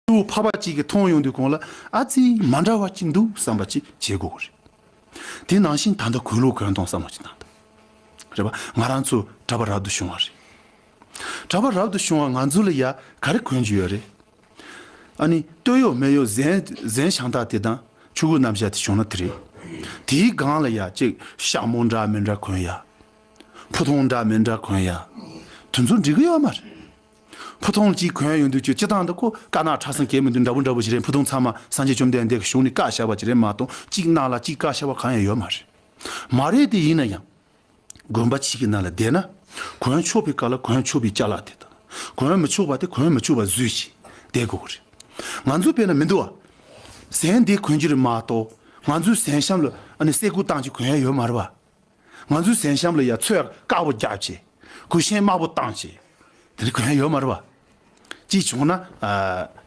སྐྱེ་བོ་འཕགས་པ་གཅིག་གིས་མཐོང་ཡོང་དུས་གང་ལ་ཨ་ཙི་མ་འདྲ་བ་གཅིག་འདུག་བསམ་པ་ཅིག་བྱེད་དགོས་རེད། དེ་ནང་བཞིན་ད་ལྟ་གོས་ལུག་གང་དང་བསམ་བློ་ཅིག་བཏང་ཐུབ། རེད་པ་ང་རང་ཚོ་གྲྭ་པ་རབ་ཏུ་བྱུང་བ་རེད། གྲྭ་པ་རབ་ཏུ་བྱུང་བ་ང་ཚོ་ལ་ཡ་ག་རེ་གོན་རྒྱུ་ཡོད་རེད། ཨ་ནི་སྟོད་གཡོག་སྨད་གཡོག་གཟན་གཟན་ཞང་དག་དེ་དང་ཕྱུག་གུ་རྣམ་བཞག་དེ་བྱུང་ན་དེ་རེད། དེའི་སྒང་ལ་ཡ་ཅིག་ཤ་མོ་འདྲ་མི་འདྲ་གོན་ཡ། ཕུ་ཐུང་འདྲ་མི་འདྲ་གོན་ཡ། དེ་ཚོ་འགྲིག་གི་ཡོད་མ་རེད། ཕུ་ཐུང་གཅིག་གོན་ཡོང་དུས་ཁྱོད་སྤྱི་བཏང་འདུག་གོ་བཀའ་ནག་ཁྲ་སངས་གས་མི་འདུག་འདྲ་བོ་འདྲ་བོ་ཞིག་རེད་ཕུ་ཐུང་ཚང་མ་སངས་རྒྱས་བཅོམ་ལྡན་འདས་ཀྱི་གཞུང་ནས་བཀའ་བཞག་པ་ཅིག་རེད་མ་གཏོགས་གཅིག་གནང་ལ་གཅིག་བཀའ་ཤག་པ་གང་ཡང་ཡོད་མ་རེད། མ་རེད་དེ་ཡིན་ན་ཡང། དགོན་པ་གཅིག་གི་ནང་ལ་བསྡད་ན། གོན་ཆོག་པའི་བཀའ་ལ་གོན་ཆོག་པའི་བཅའ་ལག་དེ་དང། གོན་མི་ཆོག་པ་དེ་གོན་མི་ཆོག་པ་བཟོས་ཞིག་བསྡད་དགོས་གི་རེད། ང་ཚོའི་དཔེ་ན་མི་འདུག་ཨ། ཟན་དེ་གོན་རྒྱུ་རེད་མ་གཏོགས་ང་ཚོའི་ཟན་ཤམ་ལ་ཨ་ནི་སེ་གོལ་བཏང་ཅིག་གོན་ཡ་ཡོད་མ་རེད་བ། ང་ཚོའི་གཟན་ཤམ་ལ་ཡང་ཚོས་དཀར་པོ་རྒྱག་ཅེས། གོས་ཤན་དམར་པོ་བཏང་ཅེས། དེ་རིང་གོས་ཤན་ཡོད་མ་རེད་པ། ཅིག་བྱུང་ན།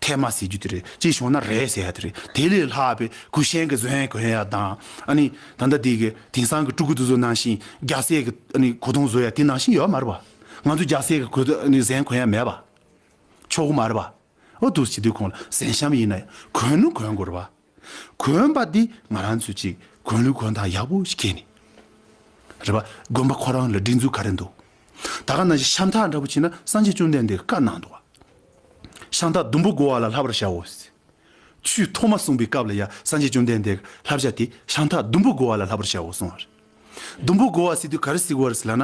ཐལ་མ་ཟེར་རྒྱུ་དེ་རེད། ཅིག་བྱུང་ན་རེད་ཟེར་ཡ་དེ་རེད། དེ་ལས་ལྷག་པའི་གོས་ཤན་གྱི་གཟན་གོས་ཡ་དང། ཨ་ནི། ད་ལྟ་དེ་གི་དེང་སང་གི་སྤྲུལ་སྐུ་དེ་ཚོ་ནང་བཞིན་རྒྱ་བཟས་ཀྱི་ཨ་ནི་གོས་ཐུང་བཟོ་ཡ་དེ་ནང་བཞིན་ཡོད་མ་རེད་པ། ང་ཚོའི་རྒྱ་བཟས་ཀྱི་གོས་ཨ་ནི་གཟན་གོས་ཡ་མེད་པ། ཆོག་གི་མ་རེད་པ། ཨོ་དུས་ཀྱི་དུས་ཁོང་ལ་གཟན་ཤམ་ཡིན་ན་ཡང་གོས་ནི་གོན་དགོས་རེད་པ། གོན་པ་འདི་ང་རང་ཚོས་ཅིག་གོན་ལུགས་གོན་ཐང་ཡག་པོ་ཞིག་སྐྱེལ་ནས་རེད་པ་དགོན་པ་ཁོ་རང་ལ་སྒྲིག་འཛུགས་ག་རེ་འདུག་ད་ག་ན་གཞི་ཤམ་ཐག་འདྲ་པོ་བྱིན་ན་སངས་རྒྱས་བཅོམ་ལྡན་འདས་ཀྱི་བཀའ་གནང་འདུག་ཤམ་ཐག་ཟླུམ་པོ་བགོ་བ་ལ་ལྷ་བར་བྱའོ་ཆུས་ཐོག་མ་གསུངས་པའི་སྐབས་ལ་ཡ་སངས་རྒྱས་བཅོམ་ལྡན་འདས་ཀྱི་ལྷ་བྱ་དེ་ཤམ་ཐག་ཟླུམ་པོ་བགོ་བ་ལ་ལྷ་བར་བྱའོ་གསུངས་བ་རེད་ཟླུམ་པོ་བགོ་བ་སྲིད་དུས་ག་རེ་སྲིད་དགོས་རེད་ཟེར་ལགས་ན་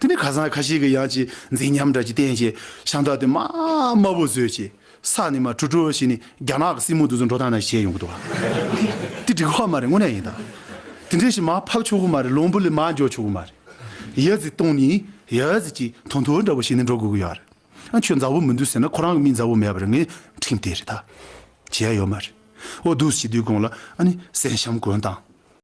དེ་ནས་ཁ་སང་ཁ་ཤས་ཀྱིས་ཡང་ཅི་འཛིན་ཉམས་དགྲ་ཀྱི་རྟེན་བཅས་ཤང་ཏག་ཏེ་དམའ་དམའ་བོ་བཟོས་ཅི་ས་ནི་མ་ཁྲུ་ཁྲུ་ཞིག་ནི་རྒྱ་ནག་གི་སྲིང་མོ་འདུ་འཛོམས་འགྲོ་སྟངས་ནང་བྱས་ཡོང་གི་འདུག་བ་དེ་འགྲིག་ཧོ་མ་རེད་དངོས་གནས་ཡིན་ད་དེ་འདྲས་ཞིག་མ་ཕབ་ཆོག་གི་མ་རེད་ལོང་བུ་ལས་མ་འཇོག་ཆོག་གི་མ་རེད་ཡོད་ཚད་སྟོང་ནི་ཡོད་ཚད་ཀྱི་དོ་མཐོ་འདྲ་བོ་ཞིག་ནི་འགྲོ་དགོས་ཀྱི་ཡོད་རེད་ཨ་ཁྱོད་མཛའ་བོ་མི་འདུག་ཟེར་ན་ཁོ་རང་གི་མིས་མཛའ་བོ་མེད་པ་རེད་ངས་ཁྲིམས་དེ་རེད་ད་བྱས་ཡོད་མ་རེད་འོ་འདུག་ཞེས་དུས་དགོང་ལ་ཨ་ནི་གསན་བཤམས་དགོན་དང།